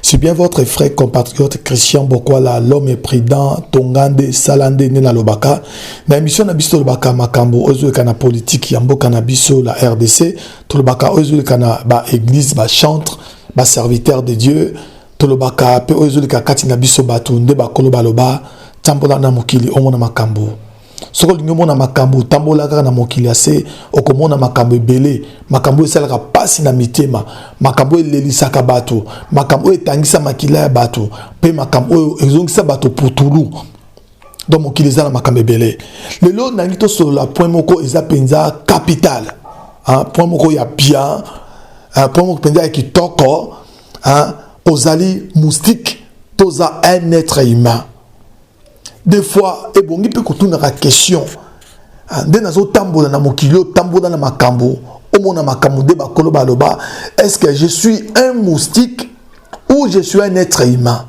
C'est bien votre frère compatriote Christian Bokwala, l'homme est prudent, Tongande, Salande, Nena Lobaka. Na émission Nabiso Lobaka Makambo, Ozuekana politique, Yambo Kanabiso, la RDC, Tolobaka Ozuekana, ba église, ba chantre, ba serviteur de Dieu, Tolobaka, Pe Ozueka Katina Biso Batu, Nde Bakolo Baloba, Tambola Namukili, Omona Makambo. soki olingi omona makambo otambola kaka na mokili ya se okomona makambo ebele makambo oyo esalaka mpasi na mitema makambo oyo elelisaka bato makambo oyo etangisa makila ya bato mpe makambo oyo ezongisa bato putulu donc mokili eza na makambo ebele lelo nangi tosolola point moko eza mpenza capital point moko ya bien point moko mpenza ya kitoko ozali moustique toza un être humain des fois ebongi mpe kotunaka question ah, nde nazotambola na mokili otambola na makambo omona makambo nde bakolo baloba est ce que je suis un moustique ou je suis un être humain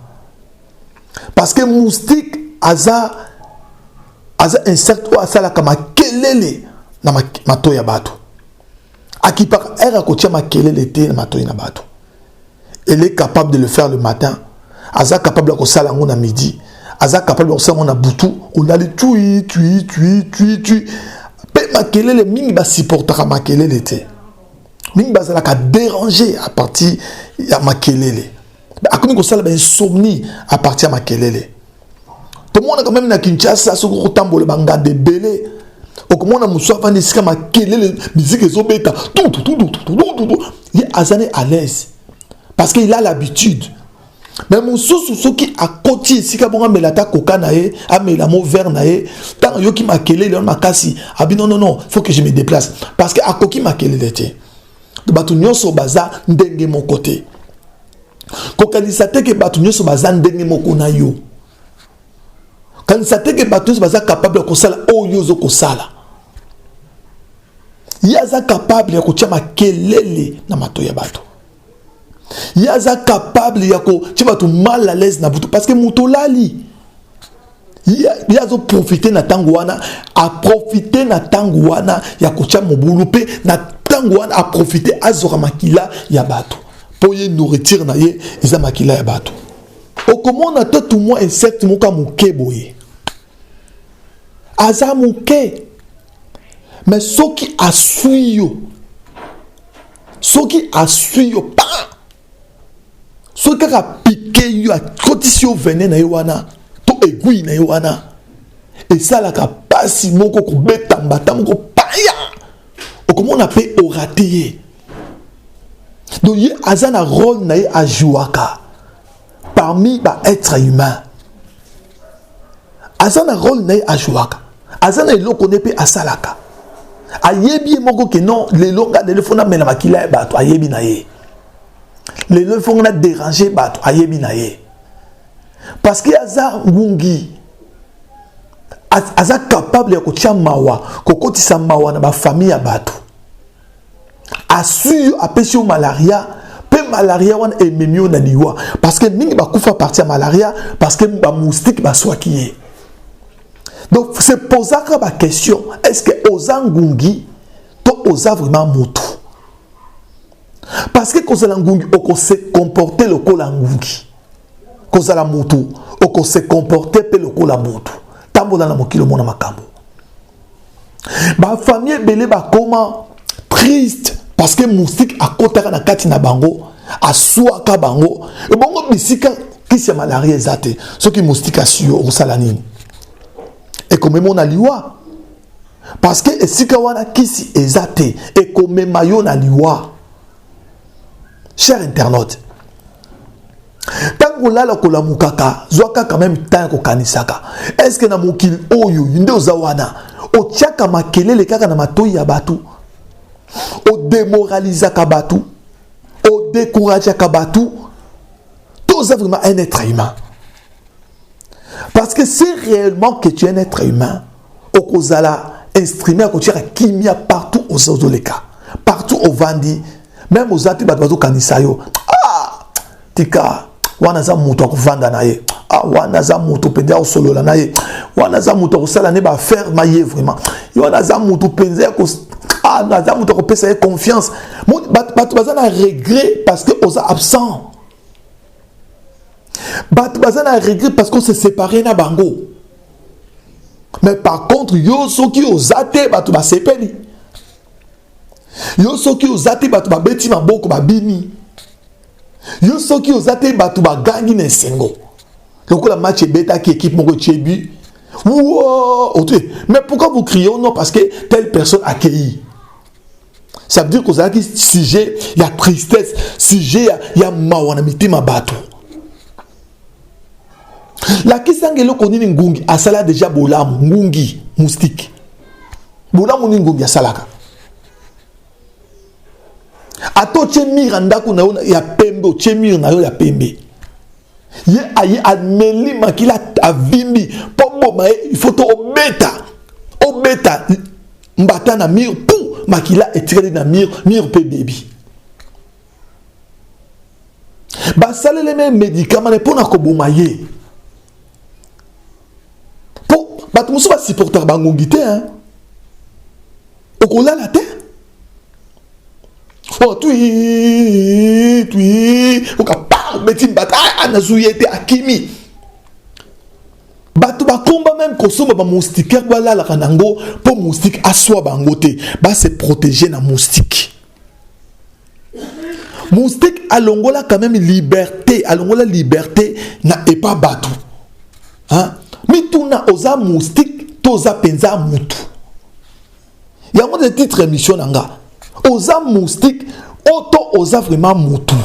parce que moustique aza aza insecte oyo asalaka makelele na matoi ya bato akipaka ere akotia makelele te na matoi na bato elle est capable de le faire le matin aza capable ya kosala yango na midi aza capable ya kosala yango na butu olali tui tui tui tui tui mpe makelele mingi basupportaka makelele te mingi bazalaka dérange à partir ya makelele akomi kosala bainsomnie à partir ya makelele tomonaka meme na kinshasa soki okotambola banganda ebele okomona mosu afandi esika makelele miziki ezobeta ye aza ne à l'aise parce que il a l'habitude me mosusu soki akoti esika bongo amela ata koka na ye amela mo vere na ye ntango ayoki makelele wana makasi abi non non non faut que je me déplace parce que akoki makelele te bato nyonso baza ndenge moko te kokanisa te ke bato nyonso baza ndenge moko na yo kanisa te ke bato nyonso baza kapable ya kosala oyo ozo kosala ye aza kapable ya kotya makelele na mato ya bato ye aza kapable ya kotya bato mal à l'aise na butu parce que moto olali ye azoprofite na ntango wana aprofite na ntango wana ya kotya mobulu mpe na ntango wana aprofite azwaka makila ya bato mpo ye nourriture na ye eza makila ya bato okomona to tumwa insecte moko ya moke boye aza moke me soki aswi yo soki aswi yo pa soki kaka apike yo akotisi yo vene na ye wana to egui na ye wana esalaka mpasi moko kobeta mbata moko paya okomona mpe orate ye donc ye aza na role na ye ajouaka parmi baêtre humain aza na role na ye ajouaka aza na eloko ne mpe asalaka ayebi ye moko ke non lelo nga lelo fo namela makila ya bato ayebi na ye lelo fo nga na dérange bato ayebi na ye parce que aza ngungi aza capable ya kotya mawa kokotisa mawa na bafamille ya bato asui yo apesi yo malaria mpe malaria wana ememi yo na liwa parce que mingi bakufa parti ya malaria parce que bamoustike baswaki ye donc se posaka baquestion est ce que oza ngungi to oza vraiment motu parce que kozala ngungi okose comporte lokola ngungi kozala motu okose comporte mpe lokola motu tambola na mokili omona makambo ba famille ebele bakoma triste parce que moustique akotaka na kati na bango aswaka bango ebongo bisika kisi ya malaria eza te soki moustique asi yo okosala nini ekomema yo na liwa parce que esika wana kisi eza te ekomema yo na liwa cher internaute ntango kolala kolamukaka zwaka quand même temps ya kokanisaka estce na mokili oyo nde oza wana otyaka makelele kaka na matoi ya bato odemoralizaka bato odekourageaka bato to oza vraiment un être humain parce que si réellement que tu es un être humain okozala instrument ya kotiaka kimia partout oza ozoleka partout ovandi meme oza mpe bato bazokanisa yo ah, tika wana aza moto ya kovanda na ye ah, wana aza moto mpenza ya kosolola na ye wana aza moto ya kosala ne baaffaire ma ye vraiment ye wana aza moto mpenza ya ah, aza moto ya kopesa ye confiance bato baza na regret parce que oza absent bato baza na regret parce qu'on se séparé na bango mais par contre yo soki oza te bato basepeli yo soki oza te bato babeti maboko babimi yo soki oza te bato bagangi na esengo lokola match ebetaki équipe moko etie but mais pourquoi vous criez non parce que telle personne accueilli ça veut dire que ozalaki sujet ya tristesse sujet ya, ya mawa na mitema bato lakisanga eloko nini ngungi asala deja bolamu ngungi moustike bolamu nini ngungi asalaka ata otie mire ya ndako na yo ya pembe otie mire na yo ya pembe ye aye ameli makila avimbi mpo boma ye il faut to obeta obeta mbata na mur pu makila etikali na mur mur mpe bebi basaleli me medikama ne mpo na koboma ye mpo bato mosusu basupportaka bangungi te okolala te oh twi twi okapa obeti mbata ah, ah, nazwi ye te akimi bato bakomba meme kosomba bamoustikere balalaka na yango mpo moustike aswa bango te base protege na moustike moustike alongola quand même liberté alongola liberté na epa bato mituna oza moustike to oza mpenza motu yango nde titre émission na nga oza moustique oto oza vraiment mutu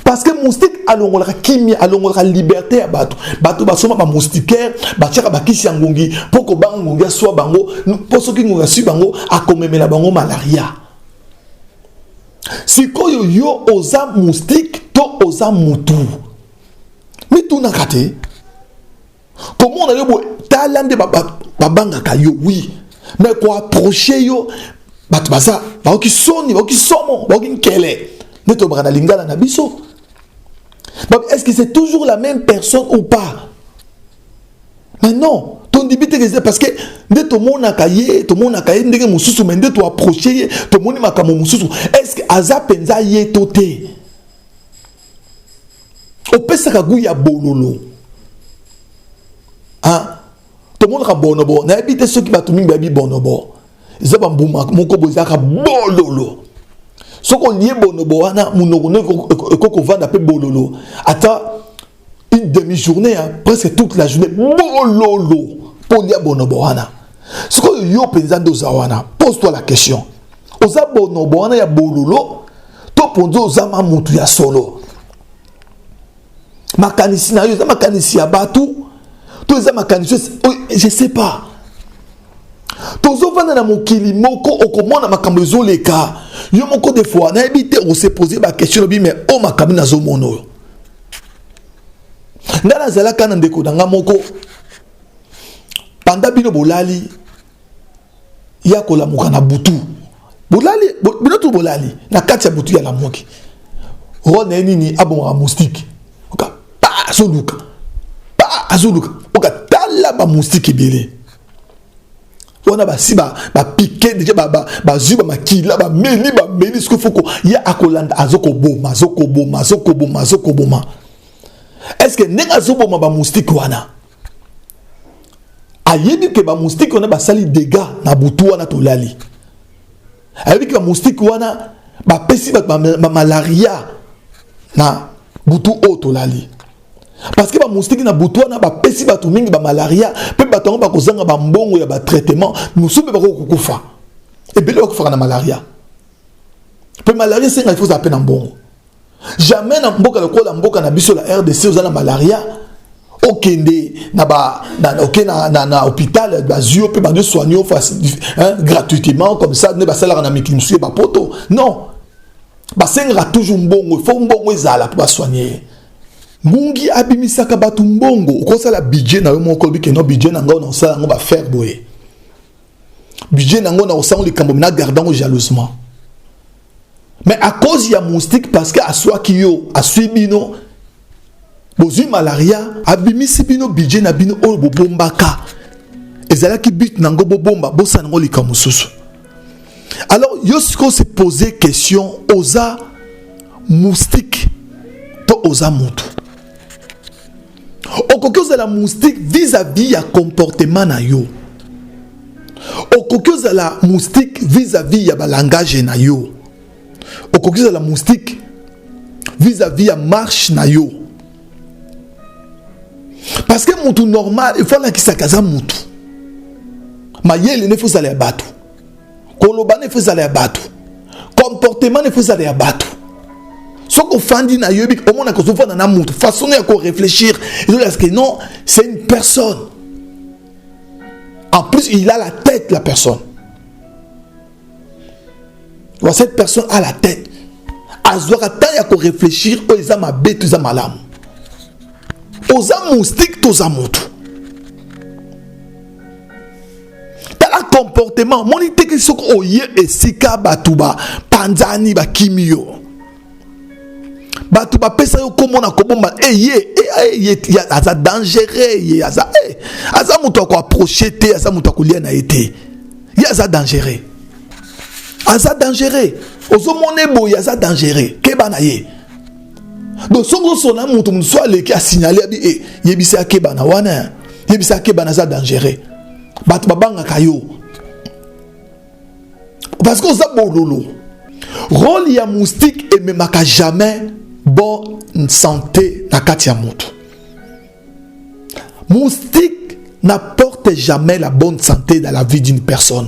parce que moustique alongolaka kimia alongolaka liberté ya bato bato basoma bamoustiquaire batiaka bakisi ya ngungi mpo kobanga ngungi aswa bango mpo soki ngungi aswi bango akomemela bango malaria sikoyo yo oza moustique to oza mutu mitunaka te komona yo boye tala nde babangaka yo wi me koaproche yo bato baza baoki soni baoki somo baoki nkele nde tolobaka na lingala na biso est ce que c'est toujours la même personne ou pas mais non tondibi te keze parce que nde tomonaka ye tomonaka ye ndenge mosusu mai nde toaproche ye tomoni makambo mosusu est ce que aza mpenza ye to te opesaka gout ya bololo ah, tomonaka bonobo nayebi te soki bato mingi bayebi bonobo eza bambuma moko boye ezalaka bololo soki olie bonobo wana monoko no ekoki kovanda mpe bololo ata une demi journée hein, presque toute la journée bololo mpo olia bonobo wana sikoyo yo mpenza nde oza wana pose toi la question oza bonobo wana ya bololo to mponza oza ma mutu ya solo makanisi na yo eza makanisi ya bato to eza makanisi je sais pas tozovanda na mokili moko okomona makambo ezoleka yo moko de fois nayebi te okosepose bakestion lobi mai o oh, makambo nazomona oyo ngai nazalaka na ndeko na ngai moko banda bino bolali ya kolamuka na butu bolali bino tu bolali na kati ya butu ya lamuki role na ye nini abongaka moustike oka pa azoluka pa azoluka oka tala bamoustike ebele wana basi bapike deja bazwi bamakila bameli bameli soki foko ye akolanda azokoboma azokoboma azokoboma azokoboma estce ndenge azoboma bamoustike wana ayebi ke bamoustike wana basali dega na butu wana tolali ayebi ke bamoustike wana bapesi bato bamalaria na butu oyo tolali parce que bamoustike na butu wana bapesi bato mingi bamalaria mpe bato yango bakozanga bambongo ya batraitement mosusu mpe bakoki kokufa ebele bakufaka na malaria mpe malaria esenga ifo ozala mpe na mbongo jamais na mboka lokola mboka na biso la rdc oza na malaria okende na ba na oke na na, na hôpital bazwi yo mpe bande soigne yo hein, gratuitement comme ça nde basalaka na mikili mosusu ye bapoto non basengaka toujours mbongo fo mbongo ezala mpo basoigne ye ngungi abimisaka bato mbongo okosala budget na yo moko olobi keno budget na ngai nakosala yango bafaire boye budget na yango nakosala yango likambo mina garde yango jalousement mais à cause ya moustique parce que aswaki yo aswi bino bozwi malaria abimisi bino budget na bino oyo bobombaka ezalaki but na yango bobomba bosana yango likambo mosusu alors yo sikoyo se pose question oza moustique to oza motu okoki ozala moustique vis-à-vis ya comportement na yo okoki ozala moustique vis-à-vis ya balangage na yo okoki ozala moustique vis-à-vis ya marche na yo parce que mutu normal efo alakisaka aza mutu mayele nde efo ozala ya bato koloba ne faut ezala ya bato comportement ne faut ezala ya bato soki ofandi na yoyebi omonaka ozofanda na moto façon ya korefléchir ezolaka que non c'est une personne en plus il a la tête la personne wa cette personne a la tête azwaka ntango ya korefléchir oyo eza mabe to eza malamu oza moustique toza motu tala comportement moni teke soki oye esika bato bapanzani bakimi yo bato bapesa yo nkombo na kobomba eye eh, eh, eh, aza dangereux ye aza aza moto ya koaproche te aza moto ya kolia na ye te ye aza dangereux aza dangereux ozomona eboye aza dangereux keba na ye donc soki osona moto mosusu aleki asignale abi e yebisa akeba na wana yebisa akeba naza dangereux bato babangaka yo parce que oza bololo role ya moustique ememaka jamais bonne santé na kati ya moto moustique n'apporte jamais la bonne santé dans la vie d'une personne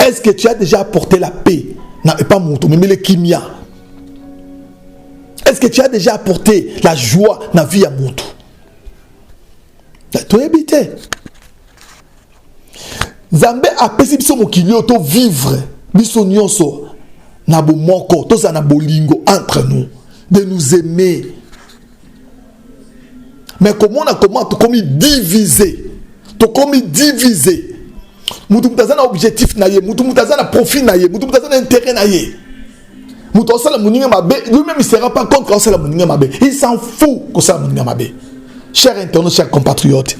est ce que tu as déjà apporté la paix na epa moto omemeli kimia est ce que tu as déjà apporté la joie na vie ya moto toyebi te nzambe apesi biso mokili oyo tovivre biso nyonso na bomoko tozala na bolingo entre nous de nous aimer mais komona koma tokomi divise tokomi divise mutu mutu aza na objectif na ye mutu mutu aza na profit na ye mutu mutu aza na intérêt na ye moto asala moninga mabe lui-même il sera pas contre asala moninga mabe il s'en fout kosala moninga mabe cher internaute cher compatriote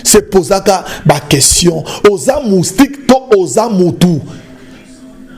se posaka baquestion oza moustique to oza motu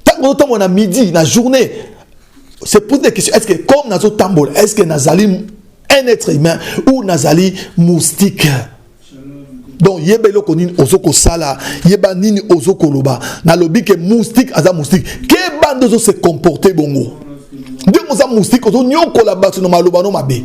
ntango ozotambola na midi na journée se pose des questions est ce que comme nazotambola est ce que nazali un être humain ou nazali moustique donc yeba eloko nini ozo kosala yeba nini ozo koloba nalobi ke moustique aza moustique keba nde ozo se comporte bongo ndenge oza moustique ozonyokola bato na maloba no mabe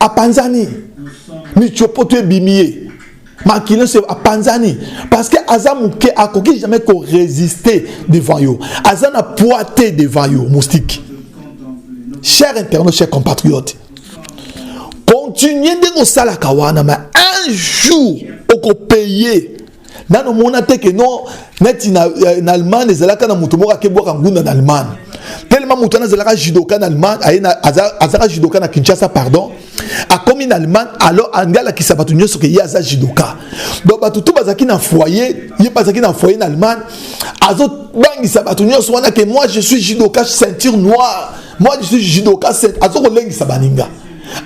apanzani michopoto ebimi ye makila nyonso apanzani parce que aza moke akoki jamais koresiste devant yo aza na poids te devant yo moustique cher internaute cher compatriote continue ndenge osalaka wana ma un jour okopaye nano mona te ke non neti na, eh, na allemagne ezalaka na moto moko akebwaka ngunda na allemagne telema moto wana azalaka judoka na allemagne aye na, aza, azalaka judoka na kinshasa pardon akomi na allemagne alors andi alakisa bato nyonso ke ye aza judoka donc bato to bazalaki na foyer ye mpe azalaki na foyer na allemagne azobangisa bato nyonso wana ke moi je suis judoka ceinture noire moi je suis judoka azokolengisa baninga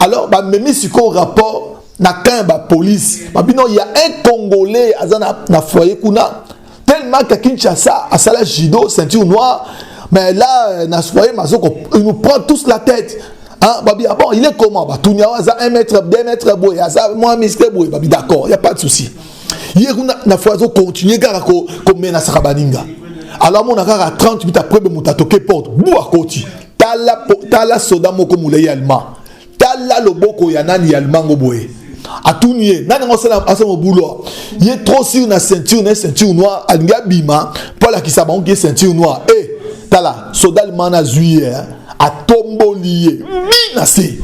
alors bamemi sikoyo rapport na camp ya bapolisi babino ya un congolais aza na, na foyer kuna tellement que kinshasa asala judo ceinture noire mais là na foyer mazoko il nous prend tous la tête Hein, babi, ah bon, il est comment bah, Tounia, aza 1 mètre, 2 mètres, boy, aza moins musclé, boy, babi, d'accord, il n'y a pas de souci. Hier, on a, na fois, on continue, car on menace à Rabaninga. Alors, mon agar à 30 minutes après, on a toqué porte, boua, koti, tala, tala, soda, moko, moulay, allemand. tala loboko ya nani ya limango boye atuni ye nani yango asala mobulu ye trop sur na ceinture na ceinture noire alingi abima mpo alakisa bango ke ceinture noire e eh, hey, tala soda limana azwi ye eh. atomboli ye bi na se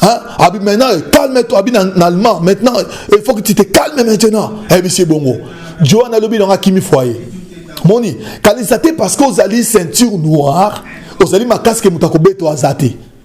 Hein? Abi maintenant, calme-toi. Abi en allemand. Maintenant, il faut que tu te calmes maintenant. Eh bien, c'est bon. Johan a lobby dans un kimi foyer. Moni, quand ils étaient parce que vous allez ceinture noire, vous allez ma casque et moutakobé, toi, zaté.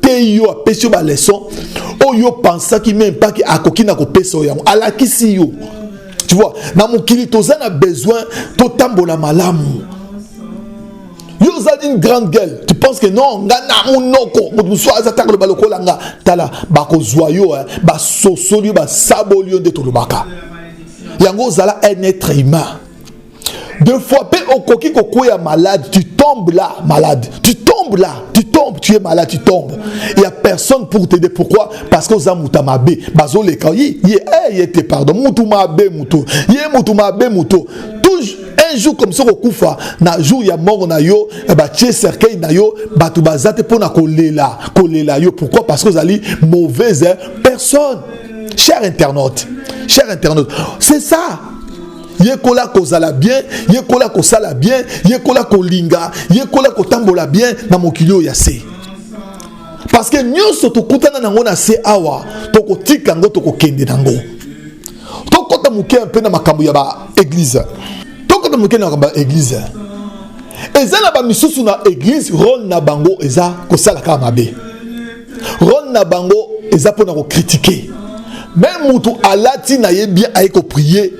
te yo apesi yo baleson oyo pensaki meme pake akoki na kopesa yo yango alakisi yo tu vois na mokili toza na besoin totambola malamu yo ozali une grande gueule tu penses que non nga na monoko moto mosusu aza taka loba lokola nga tala bakozwa yo eh. basosoli yo basaboli yo nde tolobaka yango ozala un être humain de fois pe okoki kokwea malade tu tombes là malade tu tombes là tu tombes tu es malade tu tombes il y a personne pour t'aider pourquoi parce que oza mutu mabe bazoleka ye ye eh, ye te pardon mutu mabe mutu ye mutu mabe mutu toujours un jour comme ça okokufa na jour ya mort na yo eh batie cercueil na yo bato baza te mpo na kolela kolela yo pourquoi parce que ozali mauvaise personne cher internaute cher internaute c'est ça yekola kozala bien yekola kosala bien yekola kolinga yekola kotambola bien na mokili oyo ya se parce que nyonso tokutana nango na se awa tokotika yango tokokende nango tokɔta moke mpe na makambo ya baeglize tokɔta moke na makambo ya eglize eza na bamisusu na eglize role na bango eza kosala kaka mabe role na bango eza mpo na kokritike meme mutu alati na ye bien aye koprie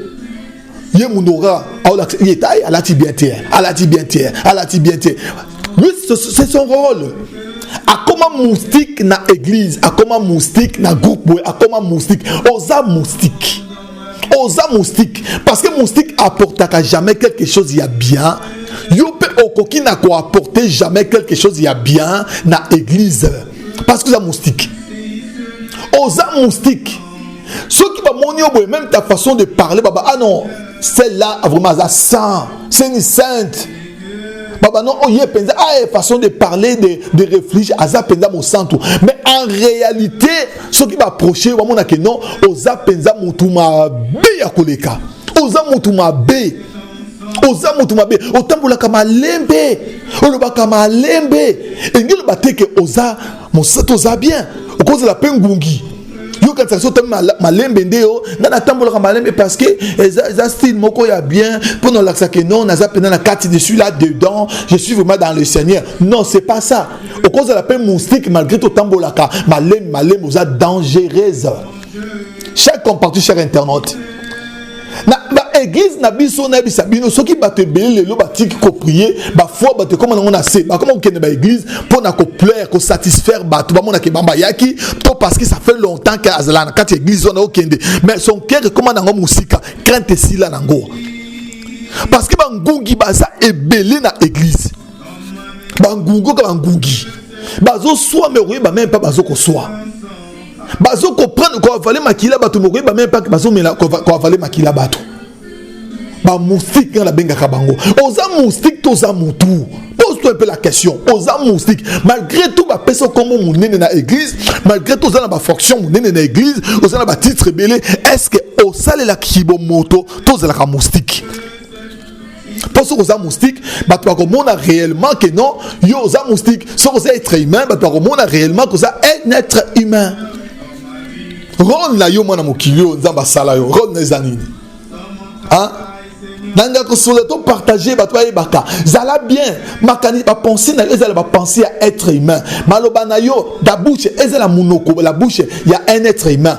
ye munora aolakisa ye taye alati bien te alati bien te alati bien te lui c'est son rôle akoma moustique na église akoma moustique na groupe boye akoma moustique oza moustique oza moustique parce que moustique apportaka jamais quelque chose ya bien yo mpe okoki na koapporte jamais quelque chose ya bien na église parce que oza moustique oza moustique soki bamoni yo boye même ta façon de parler baba ah non celle là vraiment aza saint seni sainte babano oyo ye mpenza aye façon de parler de, de réflige aza mpenza mosantu mais en réalité soki baproche yo bamona ke non oza mpenza motu mabe ya koleka oza motu mabe oza motu mabe otambolaka malembe olobaka malembe elingi eloba te ke oza mosatu oza bien okozala mpe ngungi yo kanisa so otambi malembe nde yo ngai natambolaka malembe parce que eza, eza style moko ya bien mpo na olakisa ke non naza mpenza na kati je suis là dedans je suis vraiment dans le seigneur non c'est pas ça okozala mpe moustique malgré to otambolaka malembe malembe oza dangereuse chaque comparti chaque internaute na ba église na biso nayebisa bino soki bato ebele lelo batiki koprie bafoi bato ekoma nango na se bakoma kokende ba église mpo na koplaire kosatisfaire bato bamonaka ebamba yaki to parce que ça fait longtemps ke azalaka na kati ya église wana okende mais son cœur ekoma nango mosika crainte esila nango parce que bangungi baza ebele na église bangungi oka bangungi bazoswa me okoyeba meme mpa bazokoswa bazo comprendre ko avale makila bato mokoyi ba même pas bazo mela ko avale makila bato ba moustique nga nabengaka bango oza moustique to oza mutu pose-toi un peu la question oza moustique malgré tout bapesa okombo monene na église malgré tout oza na bafonction monene na église oza na batitre ebele est ce que osalelaka kibomoto to ozalaka moustique mpo soki oza moustique bato bakomona réellement que non yo oza moustique soki oza être humain bato bakomona réellement que oza un être humain role na yo mwana mokili oyo nzambe asala yo role na eza nini nanga kosola to partage bato bayebaka zala bien makani bapense na yo ezala bapense ya être humain maloba na yo la bouche ezala monoko la bouche ya un être humain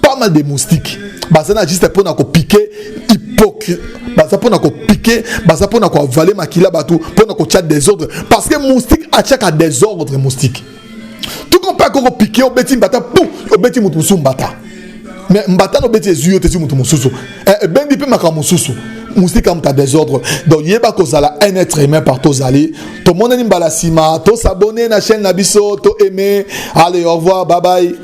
pas mal de moustiques baza na juste mpona kopike hypocrite baza mpona kopike baza mpona koavale makila bato mpona kotya desordre parce que moustique atyaka desordre moustique tuko mpe akoko pike obeti mbata pu obeti moto mosusu mbata me mbata na obeti ezwi yo te ezwi moto mosusu eh, ebendi mpe makambo mosusu moustique amuta desordre donc yeba kozala un être humain par tozali tomonani mbala nsima tosabone na chaîne na biso to aime allez au revoir babai